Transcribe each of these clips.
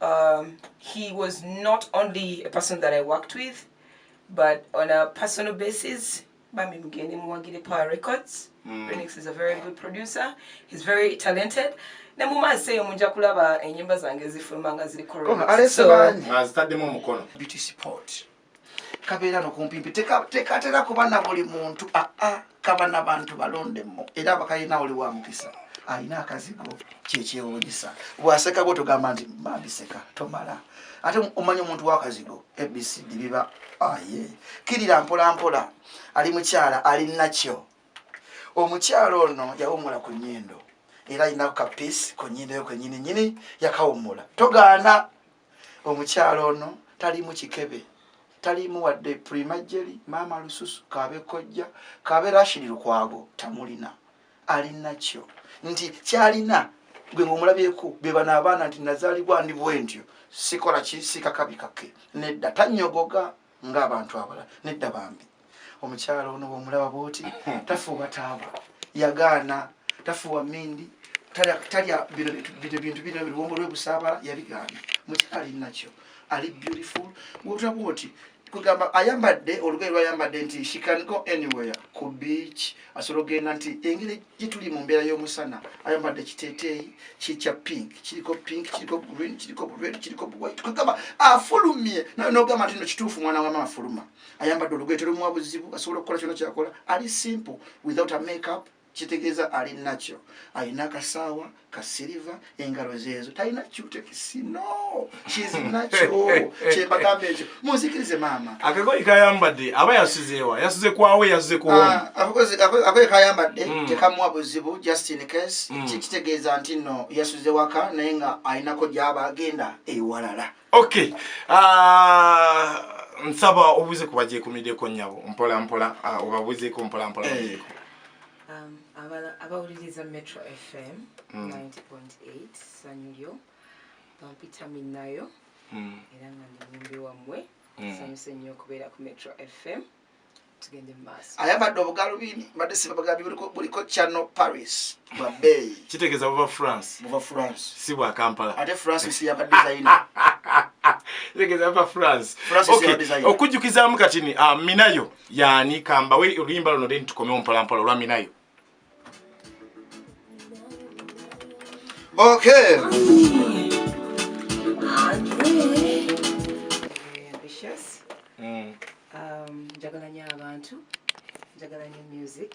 Um, he was not only a person that I worked with, but on a personal basis, Bambi Mgeni Mwagide Power Records. Mm. Renix is a very good producer. He's very talented. Ne muma seyo munja kulaba enyimba zange zifuluma nga ziri correct. Kono alese so, banyi. Azitadde mu mukono. Beauty support. kabeera no kumpimpi tekatera kuba na buli muntu aa ah, ah, kaba nabantu balondemu era abakalina oli wa mukisa alina akazigo kyekyewunyisa bwaseka bwo togamba nti mambiseka tomala ate omanya omuntu wakazigo abcd biba aye ah, kirira mpolampola ali mukyala alinakyo omukyala ono yawumula ku nyindo era alina kapiisi ku nyindo yo kwenyini nyini yakawumula togaana omukyalo ono talimu kikebe talimu wadde primajeri maama lususu kabe kojja kabe rashidi lukwago tamulina alinakyo nti kyalina gwe ngomulabyeku bebana abaana nti nazalibwa ndi bwentyo sikola kisika kabi kake nedda tanyogoga nga abantu abala nedda bambi omukyalo ono womulaba bwoti tafuuwa taaba yagaana tafuuwa mindi talya bintu bino biwongo lwebusaabala yabigaana mukyalo alinakyo ali beautiful wotula bwoti kugamba ayambadde olugoye lwayambadde nti she can go anywhere ku beach asobola ogenda nti engeri gyetuli mu mbeera y'omusana ayambadde ekiteeteeyi kikya pink kiriko pink kiriko green kiriko red kiriko white kwegamba afulumye nawe nogamba nti no kituufu mwana wamama afuluma ayambadde olugwete lumuwa buzibu asobola okukola kyona kyakola ali simple without a makeup kitegeeza ali nakyo alina akasaawa kasiriva engalo zeezo talina cutekisi no kizinakyo kyembagamba ekyo munzikirize maama akagoyi kayambadde aba yasizeewa yasize kwawe yasize kuakagoyi ah, kayambadde hmm. tekamuwa buzibu just in case hmm. kitegeeza nti no yasuze waka naye nga alinako gyaba agenda ewalala ok ah, nsaba obuze kubajekumideko nyabo mpola mpola ah, obabuzeeko mpola mpola eh. Um, abawuliriza metro fm 90.8 sanyu lyo bampita minnayo hmm. era nga ndi mumbi wammwe hmm. sanyuse nnyo okubeera ku metro fm tugende mu maaso ayambadde obugalubindi mbadde sibabagambi buliko channel paris bwa beeyi kitegeeza buva france buva france si bwa kampala ate france nsi yaba dizayina okujjukizaamu katini ah, minayo yani kambawe oluyimba luno then tukomewo mpolampola olwaminayo okay mm. um, njagala nyo abantu njagala nyo music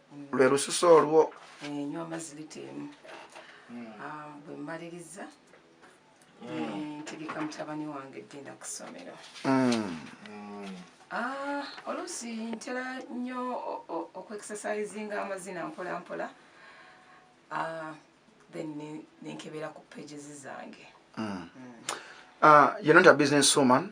lwe lususu olwo enywa amazzi lita emu hmm. ah, bwe mmaliriza hmm. ntegeka mutabani wange genda ku ssomero hmm. ah, oluusi ntera nnyo okuexercisinga amazina mpola mpola ah, then nenkebera ku pages zange yononta business woman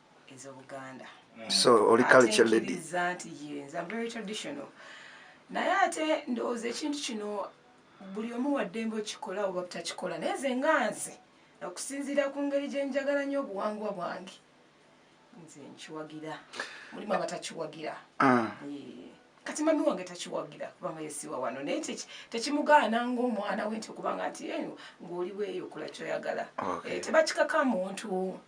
ezobuganda so oli culture lady nti yes i'm very traditional naye ate ndowooza ekintu kino buli omu waddembe okikola oba butakikola naye ze nga nze okusinziira ku ngeri gye njagala nnyo obuwangwa bwange nze nkiwagira mulimu abatakiwagira ah. kati mami wange takiwagira kubanga yesiwa wano naye tekimugaana ngaomwana we nti okubanga nti eyo ngaoli weeyo okola kyoyagala eh, tebakikaka muntu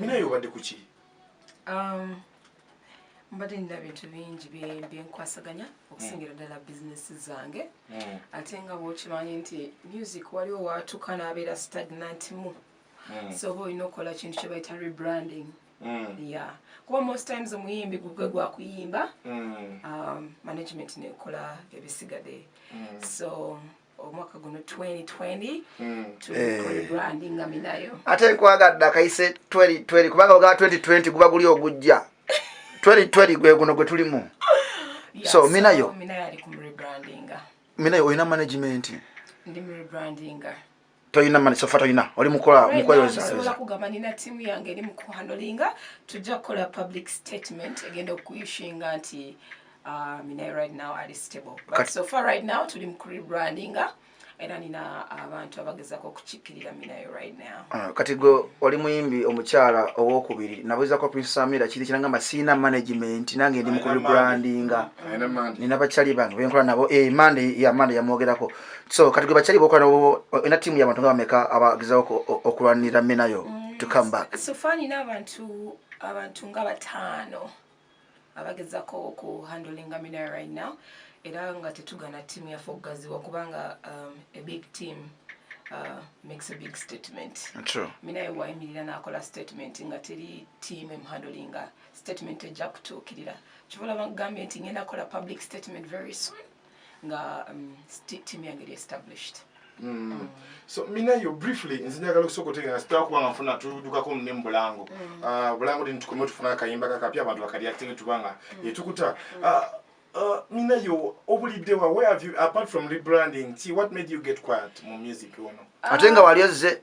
Minaye obadde ku ki? Um, mbadde nina bintu bingi byenkwasaganya okusingira hmm. ddala bizinesi zange hmm. ate nga bwokimanyi nti music waliwo waatuuka n'abeera stagnant mu hmm. so oba olina okukola kintu kye bayita rebranding ya kuba most times omuyimbi gugwe gwakuyimba um, management nekola ebisigadde so omwaka guno 2020 hmm. eh. ate nkwagadde akayise 2020 kubanga ogaba 2020 guba guli ogujja 2020 gwe guno gwe tulimu so minayo minayo olina management ndi mu rebrandinga toyina mani sofa toyina oli mukola mukweyozaola kugamba nina tiimu yange eri mukuhandolinga tujja kukola public statement egenda okuyushinga nti uh, mina right now ali stable but so far right now tuli mukurebrandinga era nina abantu abagezako okukikirira minayo right now ah, kati gwe oli muyimbi omukyala owokubiri nabuzako pinsamira kiri kirangamba siina management nange ndi mukurebrandinga nina bakyali bange benkola nabo e eh, mande ya mande yamwogerako so kati gwe bakyali bokola nobo ena tiimu yabantu nga bameka abagezawo okulwanira menayo mm, to come back so far nina abantu abantu nga bataano abagezako oku handlinga menayo right now era nga tetugana tiimu yaffe okugaziwa kubanga um, a big team uh, makes a big statement True. minaye wayimirira nakola statement nga teri team emhandlinga statement ejja kutuukirira kivola bagambye nti ngenda kola public statement very soon nga um, team yange eri established Mm. Mm. so minayo briefly nze njagala okusooka otegeera sitera kuba nga nfuna tudukako ne mubulango mm. ah, bulango dini tukomeo tufuna akayimba kakapya abantu bakalyakitenge tuba nga mm. etukuta mm. ah, ah, minayo obuliddewa where have you apart from rebranding ti what made you get quiet mu music ono ate nga wali ozze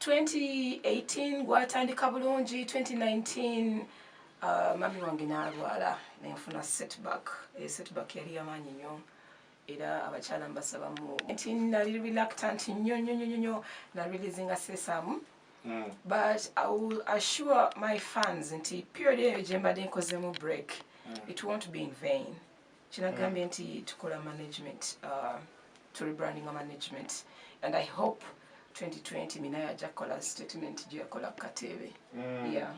2018 gwatandika bulungi 2019 uh, mami wange nalwala nenfuna setback e setback yali yamaanyi nnyo era abakyala mbasaba mu nti nali reluctant nnyo nnyo nnyo nnyo na releasinga sesamu mm. but i will assure my fans nti period eyo gyembadde nkozemu break mm. it won't be in vain kinagambye nti tukola management uh, to rebranding management and i hope 2020 minayo ajja kukola statement gyeyakola ku kateebe mm. yeah.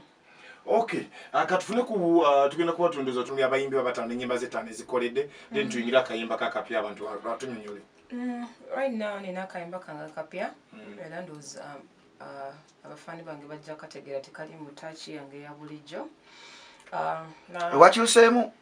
okay uh, katufune ku uh, tugenda kuba tundoza tumi abayimbi babatano enyimba zetano ezikoledde mm -hmm. then tuyingire akayimba kakapya abantu batunyonyole mm, right now nina akayimba kange kapya mm. era ndoozi um, uh, abafaani bange bajja kategeera tekali mu taaki yange ya bulijjo uh, wakyuseemu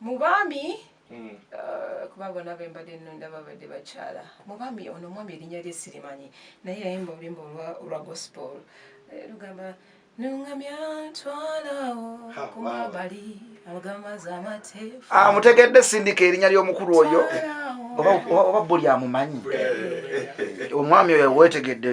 mu baami hmm. uh, kuba bona bembadde nonda babadde bakyala mu baami ono omwami erinnya lye sirimanyi naye yayimba oluyimba olwa gospel eh, lugamba nungamya ntwalawo kumabali agamazi amateefu ah, mutegedde sindika erinnya ly'omukulu oyo oba buli amumanyi omwami oyo wetegedde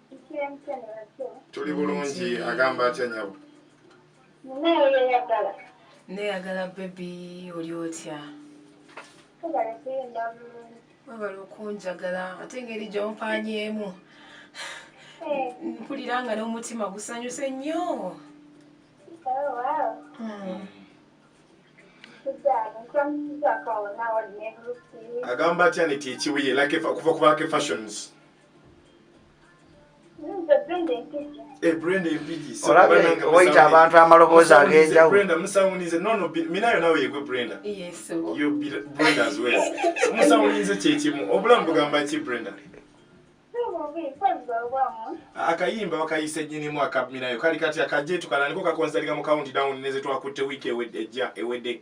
tuli bulungi agamba atya nyabo neyagala bebi oli otya webala okunjagala ate engeri gyompanyeemu eh. mpulira nga n'omutima gusanyuse nnyo agamba atya nti ekibuye like kuva kubaka fashions Eh, oyita abantu amaloboozi ag'enjawulomusawulinze kyekimu obulamu bugamba ki brenda akayimba bakayisa enyinimu akaminayo kali kati akajetukananiko kakonzaliga mu county down nezetwakutte wiiki ejja ewedde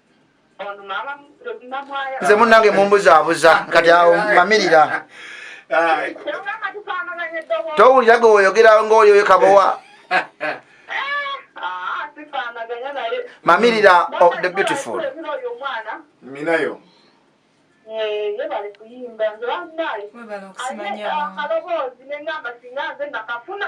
nze munange mumbuzabuza kati awo mamirira towulira gwe woyogera ngaoyo oyo kabowa mamirira of the beautiful minayo yebale kuyimba nze banaye alina akaloboozi nengamba singa nze nakafuna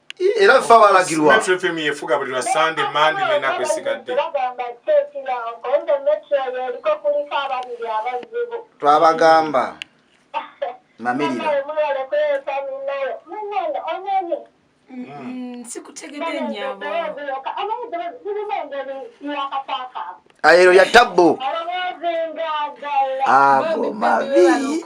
era ffe abalagirwa metro fm yefuga buli lwa sande mandi nenaku esigadde twabagamba mamiriraero ya tabbu ago mabi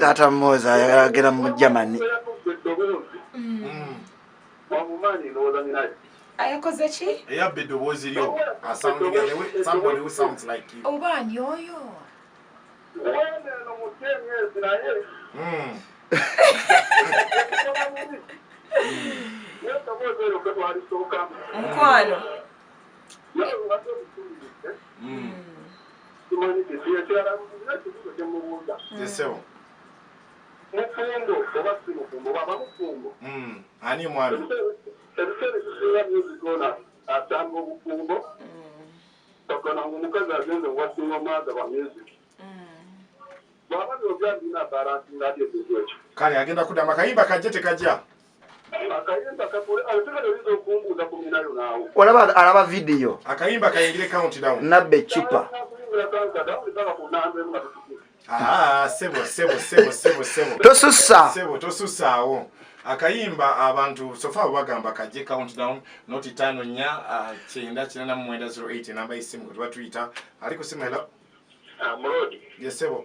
taata moza ayagala agenda mu germany ayakoze ki eyabba eddoboozi lyo oba ani oyo hmm. mukwano ani mwami ebiseera ebisinga byebigona asanga obufumbo ogona nga omukazi agenda owasinga omwaga wa music kale agenda kudama kayimba kajja tekajja olaba alaba vidiyo nabba eccupa ah, tosussaawo akayimba abantu sofa bagamba kaje countdown not tano nya ah, kyenda kina na mwenda 08 namba isimu kwa tuita aliko simu hello ah, mrodi yesebo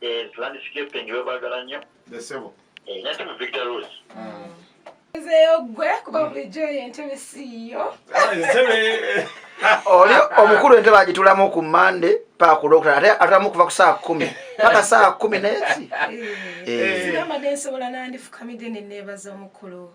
Yes, landscaping babagala nnyo. Yes, sebo. Eh, nati mu Victor Road. Mm. Nzeyo gwe kuba mm. bulijjo y'entebe siiyo. Ah, entebe. Oli omukulu entebe agitulamu ku Mande paka ku Lwokuna ate atulamu kuva ku saa kumi paka saa kumi n'eki. Eh. Eh. Sinamade nsobola nandifukamidde ne neebaza omukulu.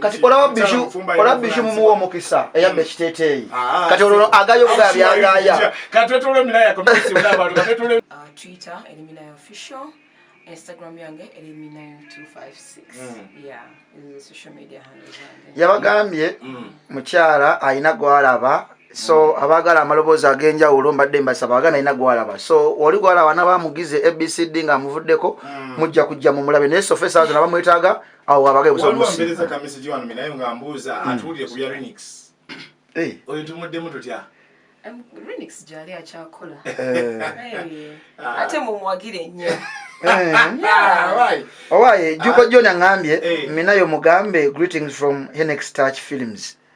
kati olabishu mumuwa omukisa eyamba mm. ekiteteeyi ah, kati olwo agaya obugaya byagaya yabagambye mukyala alina gwalaba so abagala amaloboozi ag'enjawulo mbadde mbasaba agana alina gwalaba so oli gwalaba nabamugize abcd nga amuvuddeko mm. mujja kujja mumulabe naye sofa esaa zona bamwetaaga awo abage busobusiwambereza kamesegi wano minaye nga mbuuza mm. atuwulire ku bya renix eh. oyo tumuddemu tutya renix gyali akyakola eh. ah. ate mumwagire nnyo eh. ah, owaye juko joni aŋambye ah. minayo mugambe greetings from henex touch films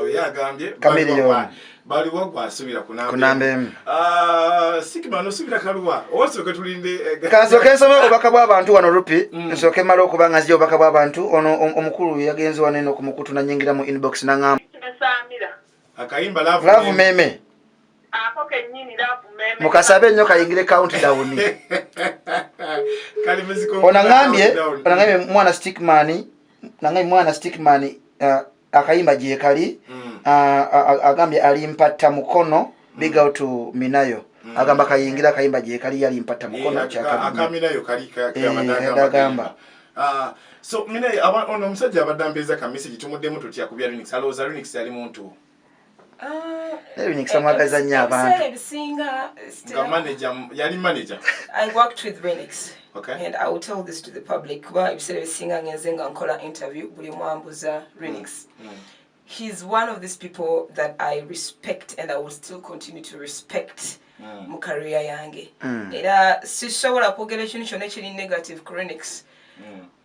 oyo agambye baliwo gwasubira kunamba emu ah, sikima nosubira kaluwa osooke tulinde eh, kansooke nsome obubaka bw'abantu wano rupi mm. nsooke mala okuba nga nzija obubaka bw'abantu ono omukulu yagenze wano eno ku mukutu nanyingira mu inbox naŋamba akayimba laavu meme mukasabe nnyo kayingire count down onangambye onangambye mwana stickmani nange mwana stickman uh, akayimba gyekali mm. uh, agambye alimpatta mukono mm. big out to minayo mm. agamba kayingira akayimba gyekali yalimpatta mukono eh, kyakagamba eh, ah, so minayo ono omusajja abadde ambeeza ka message tumuddemu tutya ku bya linux alowooza linux yali muntu naye binyikisa mwagaza nnyo abantu ebisinga nga manager yali manager i worked with renix okay and i will tell this to the public kuba ebiseera ebisinga ngenze nga nkola interview buli mwambuza renix mm. mm. he's one of these people that i respect and i will still continue to respect mm. mu career yange mm. era sisobola kwogera ekintu kyonna ekiri negative chronics mm.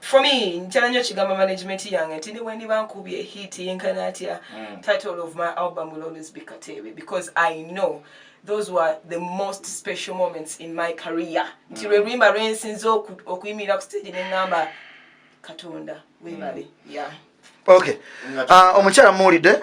for me nkyala nyo kigamba management yange nti newendiba nkubye hit yenkana atya mm. title of my album will always be kateebe because i know those were the most special moments in my career nti mm. lwe luyimba lwensinza okuyimirira ku stage nengamba katonda webale mm. yeah okay uh, omukyala muwulidde